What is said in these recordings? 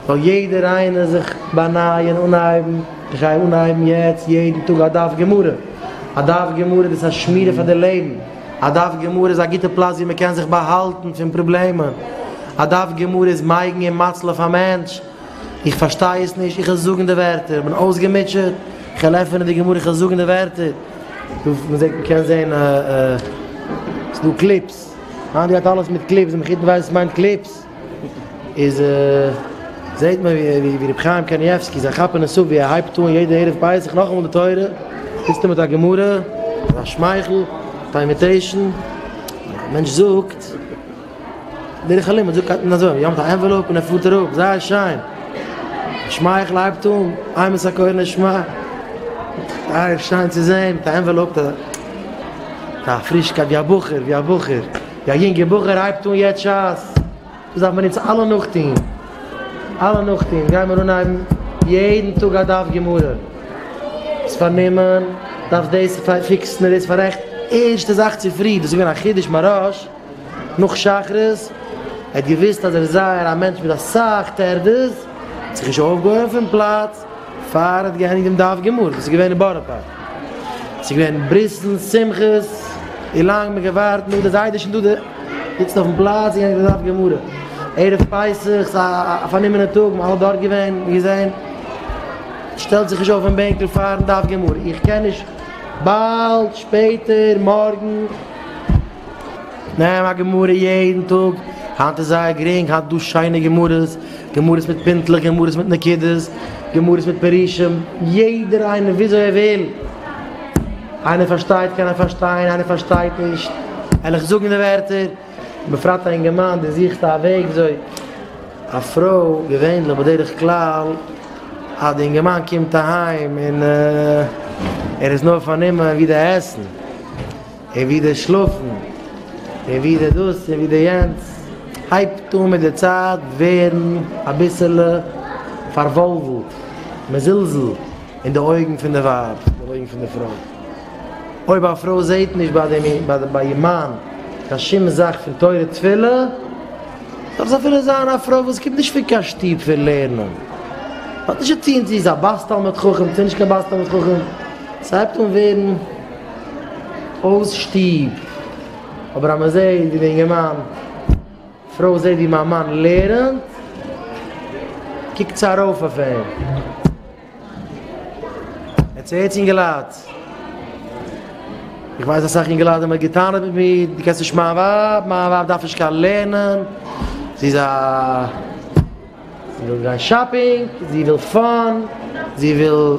זאל יעדער איינער זיך באנייען, אנהייבן, איך גיי אנהייבן יעצט יעדן טאג א דף גמרא, א דף גמרא דאס איז א שמירה פאר די לעבן, א דף גמרא איז א גוטע פלאץ ווי מען קען זיך באהאלטן פון פראבלעמען, א דף גמרא איז מייגן און מציל אויף א מענטש, איך פארשטיי עס נישט, איך וועל זאגן די ווערטער, איך בין אויסגעמוטשעט, איך וועל עפענען די גמרא, איך וועל זאגן די ווערטער. דא וואו מען זעט, מען קען זען א א ס'איז דא קליפס, היינט גייט אלעס מיט קליפס, די מחותן ווייסן וואס מיינט קליפס. איז זעהט מען ווי רבי חיים קנייבסקי זיי כאפען עס אפ ווי ער הייבט אן יעדע ערב פסח נאכאמאל די תורה זיצט ער מיט א גמרא מיט א שמייכל מיט א אימיטעישן א מענטש זאגט דרך הלימוד זאגט הייבט מען אזוי אן מיט א ענוועלאופ און ער פארט אראפ זייער שיין א שמייכל הייבט אן איי מען סאקויער נשמע זייער שיין צו זעהן מיט א ענוועלאופ א פרישקייט ווי א בחור ווי א בחור. יא יונגע בחור הייבט אן יעצט שס, דאס דארף מען אונז אלע נאכטוהן, אלע נאכטוהן גייען מיר אנהייבן יעדן טאג א דף גמרא, ביסט פארנומען דארפסט דאס פיקסן און דאס פארעכטן, ערשטע זאך צופרי, דאס איז געווען א חידוש מרעיש, נאך שחרית, ער האט געוויסט אז ער איז זייער א מענטש מיט אסאך טערדעס, האט זיך נישט אויפגעהויבן פון פלאץ, פאר האט געענדיגט דעם דף גמרא וואס איז געווען אין בארא פארק, עס איז געווען ברית'ן, שמחות, און לאנג האט מען געווארט, נאך די זיידע שטונדע זיצן אויפן פלאץ און געענדיגט דעם דף גמרא, ערב פסח, עס איז א פארנומענע טאג, מען האט אלע דארט געווען און געזען, שטעלט זיך נישט אויף פון בענקל פארן דף גמרא, איך קען נישט, באלד, שפעטער, מארגן. נעם א גמרא יעדן טאג, היינט איז זייער גרינג, היינט איז דא שיינע גמרות, גמרות מיט פינטלעך, גמרות מיט נקודות, גמרות מיט פירושים, יעדער איינער וויאזוי ער וויל, איינער פארשטייט קען ער פארשטיין, איינער פארשטייט נישט, ענליך זאגן די ווערטער, בפרט א אינגערמאן דער זוכט א וועג וויאזוי, א פרוי, געווענליך בדרך כלל, אז די אינגערמאן קומט אהיים און ער איז נאר פארנומען ווי די עסן. און ווידער שלאפן, און ווידער דאס און ווידער יענץ, הייבט אן מיט די צייט ווערן אביסעלע פארוואלוולט, מזולזל אין די אויגן פון די ווייב, אין די אויגן פון די פרוי. אויב א פרוי זעט נישט ביי איר מאן קיין שום זאך פון תורה תפילה, דארף עס אפילו זיין א פרוי וואס קומט נישט פון קיין שטוב פון לערנען, האט נישט צו טון צו זי איז א בת תלמיד חכם צו נישט קיין בת תלמיד חכם, ס'הייבט אן ווערן. אויס שטוב, אבער אז מען זעט ווי די אינגערמאן פרוי זעט ווי מיין מאן לערנט, קוקט זי ארויף אויף אים. עטס הערטס אינגעלייט? איך ווייס אסאך אינגעלייט ווען מען האט גע'טענה'ט מיט מיר, דו קענסט נישט מיין ווייב, מיין ווייב דארף נישט קיין לערנען, זי איז א. זי וויל גיין שאפינג, זי וויל פאן, זי וויל.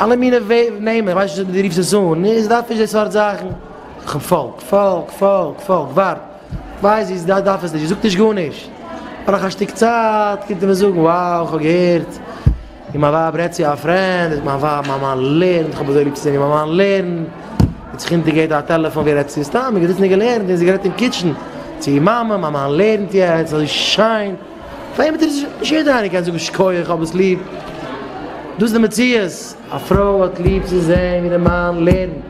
אלע מינע נעמען, איך ווייס נישט ווי דו רופסט עס אן, נו איז דארף נישט די סארט זאכן. כ'פאלג, פאלג, פאלג, פאלג, ווארט, ווייז ווי ס'דארף, דארף עס נישט, זאגט נישט גארנישט. נאך א שטיק צייט קומט ער מיר זאגן, wow, כ'האב געהערט ווי מיין ווייב רעדט צו א פרענד, זאגט מיין ווייב, מיין מאן לערנט, כ'האב אזוי ליב צו זען ווי מיין מאן לערנט, זי האט זיך אונטערגעהערט א טעלעפאן ווי ער רעדט צו איר, סתם, ער האט געזעצן און געלערנט, און זי האט גערעדט אין קיטשן, צו איר מאמע, מיין מאן לערנט יעצט, אזוי שיין. פאר אים האט ער נישט נישט יעדער איינער קען זאגן שכוח איך האב עס ליב דאס איז די מציאות א פרוי האט ליב צו זען ווי די מאן לערנט.